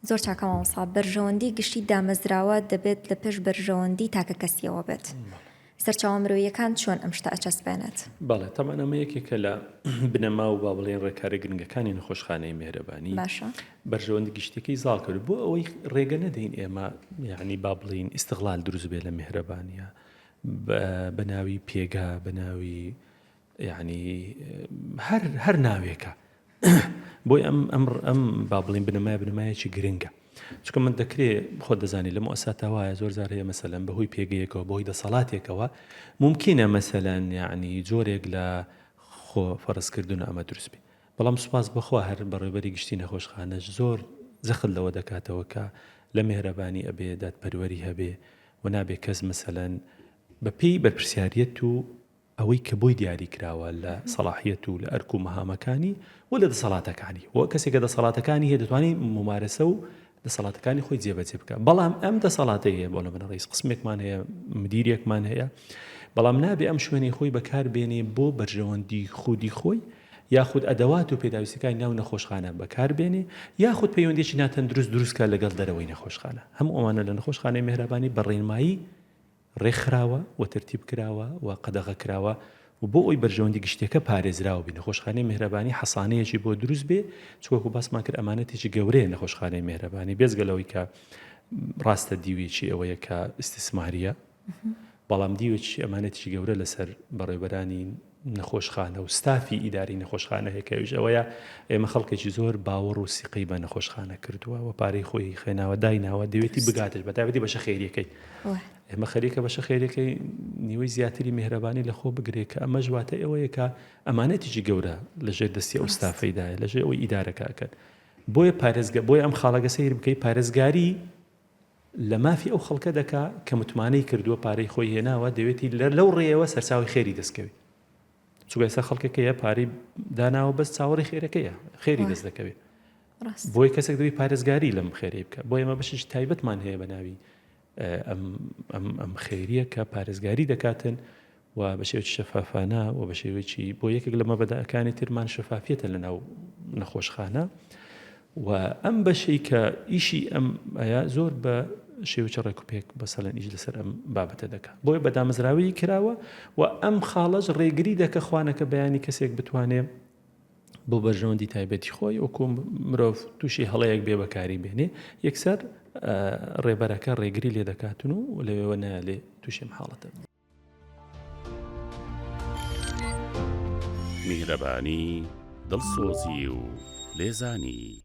زۆر چاکە مامۆستا، بەرژەوەندی گشتی دامەزراوە دەبێت لە پێش بەرژەوەندی تاکە کەسیەوە بێت. سەرچاوە مرۆییەکان چۆن ئەم شتە ئەچەسپێنێت؟ بەڵێ تەبعەن ئەمە یەکێکە لە بنەما و با بڵێین ڕێکارە گرنگەکانی نەخۆشخانەی مێهرەبانی باشە. بەرژەوەندی گشتیەکەی زاڵ کرد بۆ ئەوەی ڕێگە نەدەین ئێمە یعنی با بڵێین ئیستغلال دروست بێ لە مێهرەبانیە بە بەناوی پێگا بەناوی یەعنی هەر هەر ناوێکە. بۆی ئەم ئەم ئەم با بڵین بنەمای بنەمایەکی گرنگە چکە من دەکرێ خۆ دەزانانی لە مؤسساتا وایە زۆر زار هەیە مەسەلەن بەهۆی پێگەیەکەوە بۆی دەسەڵاتێکەوە ممکنە مەسەلەن یعنی جۆرێک لە خۆ فەرزکردن ئەمە دروست بێ بەڵام سوپاس بەخوا هەر بەڕێبەری گشتی نەخۆشخانەش زۆر زەخت لەوە دەکاتەوە کە لە مهرەبانی ئەبێ دادپەروەری هەبێ و نابێ کەس مەسەلەن بەپی بەرپرسیارەت و ئەوەی کە بۆی دیاری کراوە لە سەڵاحیەت و لە ئەرک و مەهامەکانی و لە دەسەڵاتەکانی و کەسێکە دەسەڵاتەکانی هەیە دەتوانی مومارەسە و دەسەڵاتەکانی خۆی جێبەجێ بکە بەڵام ئەم دەسەڵاتی هەیە بۆ لە منە ڕیز قسمێکمان هەیە مدیرێکمان هەیە بەڵام نابێ ئەم شوێنەی خۆی بەکار بێنێ بۆ بەرژەوەندی خودی خۆی یاخود ئەدەوات و پێداویستەکانی ناو نەخۆشخانە بەکاربێنێ یاخود پەیوەندێکی ناتەندروست دروستکە لەگەڵ دەرەوەی نەخۆشخانە هەموو ئەوانە لە نەخۆشخانەی مهرەبانی بەڕێنمایی ڕێکخراوە و تەرتیب کراوە و قەدەغە کراوە و بۆ ئەوەی بەرژەوەندی گشتیەکە پارێزراو بی نەخۆشخانەی مێهرەبانی حەسانەیەکی بۆ دروست بێ چ وەکو باسمان کرد ئەمانەتێکی گەورەیە نەخۆشخانەی مێهرەبانی بێزگە لەوەی کە ڕاستە دیوێکی ئەوەیە کە ئیسیسماریە بەڵام دیوێکی ئەمانەتێکی گەورە لەسەر بەڕێبەرانی نەخۆشخانە و ستافی ئیداری نەخۆشخانە هەیە کە ئەویش ئەوەیە ئێمە خەڵکێکی زۆر باوەڕ و سیقەی بە نەخۆشخانە کردووە و پارەی خۆی خوێناوە دایناوە دەوێتی بگاتش بە تابەتی بەشە خێریەکەی ئێمە خەریکە بەشە خێریەکەی نیوەی زیاتری میهرەبانی لە خۆ بگرێت کە ئەمە ژواتە ئەوەیەکە ئەمانەتیجی گەورە لەژێر دەستی ئەو ستافەیدایە لەژێ ئەوەی ئیدارەکە ئەکەن بۆیە پارێزگە بۆی ئەم خاڵەگە سیر بکەی پارێزگاری لە مافی ئەو خەڵکە دەکا کە متمانەی کردووە پارەی خۆی هێناوە دەوێتی لە لەو ڕێیەوە سەرچاوی خێری دەستکەوێ چونکە ئێستا خەڵکەکە هەیە پارەی داناوە بەس چاوەڕی خێرەکەیە خێری دەست دەکەوێت بۆی کەسێک دەوی پارێزگاری لەم خێری بکە بۆ ئێمە بەشش تایبەتمان هەیە بە ناوی ئەم خێریە کە پارێزگاری دەکاتن و بە شێوەیەکی شەفافانە و بە شێوەیەکی بۆ یەکێک لە مەبەدەکانی ترمان شەفافیەتە لە ناو نەخۆشخانە و ئەم بەشەی کە ئیشی ئەم ئەیە زۆر بە شێوچە ڕێکوپێک بە سەلێن ئیش لەسەر ئەم بابەتە دەکە بۆیە بە دامەزراوی کراوە و ئەم خاڵەش ڕێگری دەکە خوانەکە بەیانی کەسێک بتوانێ بۆ بەرژەوەندی تایبەتی خۆی و کۆم مرۆڤ تووشی هەڵەیەک بێ بەکاری بێنێ یەکسەر ڕێبەرەکە ڕێگری لێ دەکاتون و لەوێوە نالێ تووشێم حاڵەتە میهرەبانی دڵسۆزی و لێزانی